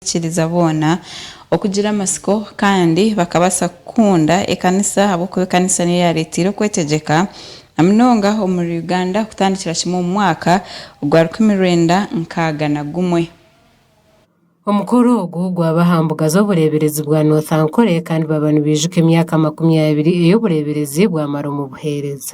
abarikukiriza boona okugira amatsiko kandi bakabaasa kukunda ekanisa ahabw'okuba ekanisa niyo yaareeteire okwetegyeka na munonga omuri Uganda kutandikira kimwe omu mwaka ogwa rukumi rwenda nkaaga na gumwe. Omukoro ogwo gwaba aha mbuga z'obureeberezi bwa North Ankole kandi baba nibaijuka emyaka makumi abiri ei obureeberezi bwamara omu buheereza.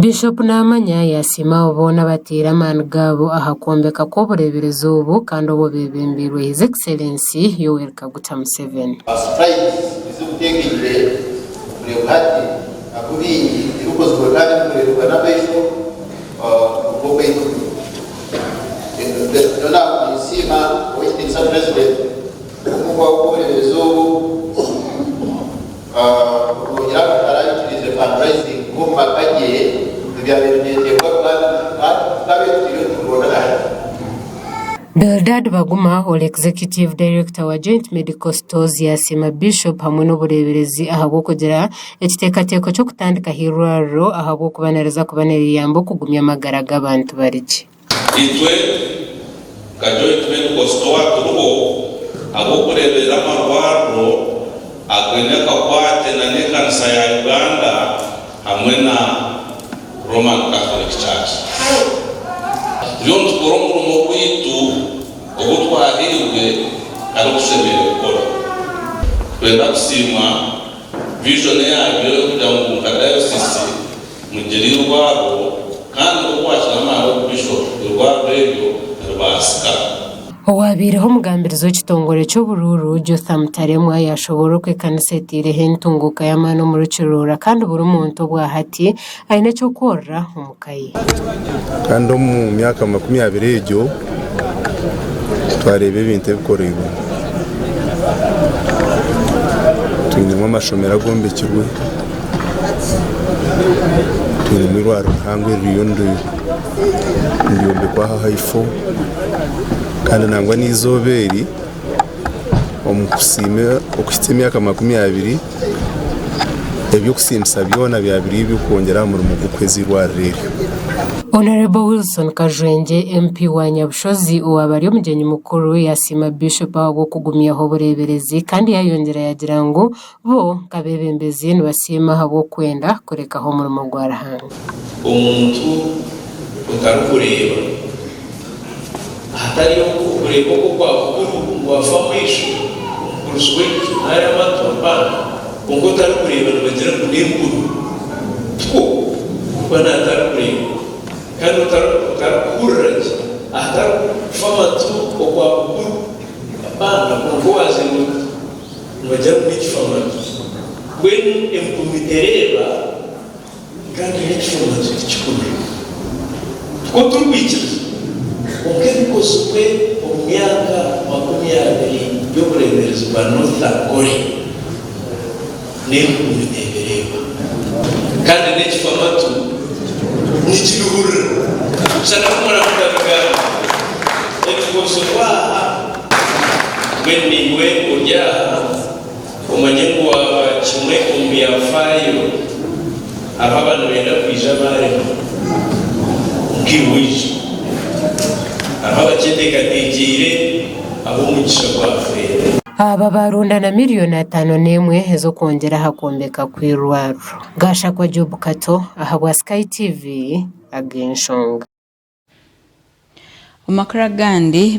Bishop Namanya yasiima abo boona abataire amaani gaabo aha kwombeka kw'obureeberezi obu kandi obu beebembeirwe His Excellency Yoweri Kaguta Museveni. Obu bw'obuwoorerezi obu bwongera kutara abaikiriize fundraising b'omu maka gye ebyabaire nibyetebwa Bwana Nampata kuba abetwire oturoore ahari. Bildad Baguma ori Executive Director wa Joint Medical Stores yaasiima Bishop hamwe n'obureeberezi ahabw'okugira ekiteekateeko ky'okutandikaho eirwariro ahabw'okubanariza kuba niriyamba okugumya amagara g'abantu bari gye. Itwe nka Joint Medical Store turiho ahabw'okureeberera amarwariro againe akakwate nana ekanisa ya Uganda hamwe na Roman Catholic Church. Turiyo nitukora omurimo gwaitu ogu twahairwe kandi ogu tushemereire kukora. Nitwenda kusiimwa. Vision yaabyo y'okugira ngu nka dayosiisi mugire irwarwo kandi nk'oku waakira amaani oku Bishop, irwarwo eryo niribaasika. Owaabaireho omugambirizi w'ekitongore ky'oburuuru, Jotham Taremwa yaashoboorora oku ekanisa etaireho entunguuka y'amaani omuri Kiruura kandi buri muntu obwahati Aine eky'okworora omu ka ye. Kandi omu myaka makumi abiri egyo twareeba ebintu ebikoreirwe. Twinemu amashomero agombekirwe, twinemu eirwariro rihango eririyo niryombekwa aha haifo kandi nangwa n'eizooba eri omu kusiima okuhitsya emyaka makumi abiri, eby'okusiimisa byona byaba biri eby'okwongyera aha murimo gw'okuhweza eirwariro eryo. Honourable Wilson Kajwengye MP wa Nyabushozi owaaba ari omugyenyi mukuru yasiima Bishop ahabw'okugumyaho obureeberezi kandi yayongyera yagira ngu Bo nk'abeebembezi nibasiima ahabw'okwenda kurekaho omurimo gwa Ruhanga. Omuntu otarikureeba. Ahatari okwo, okureeba okwo kwa bukuru ngu afa amaisho, omukurusi w'enju, nari amatu, abaana, kwonka otarikureeba nibagira ngu n'empunu. Tikwo kuba n'atarikureeba. Kandi otarikuhurira gye. Ahatari kufa amatu okwa bukuru, abaana, kwonka owaazairwe muto. Noija kugicwa matu. Mbwenu empumi tereeba nka nka ekicwa matu tikikureeba. Nikwo turikwikiriza. Kwonka ebikozirwe omu myaka makumi abiri y'obureeberezi bwa North Korea. N'enkumi neebireeba, kandi n'ekifamatu nikibihurira. Shana ku muramuka bigambo ebiri kwotsirwa aha, mbwenu naiwe ori aha, omanye ngu waaba kimwe omu byafaayo abu aba nibenda kwija baarema, nkaiwe oije. Hariho abakyeteekateekyeire abu omugisha gwafeera. Aba baaronda na milioni ataano n'emwe ez'okwongyera aha kwombeka kw'eirwariro. Gashakwa Job Kato ahabwa Sky TV ag'enshonga. Omu makuru agandi,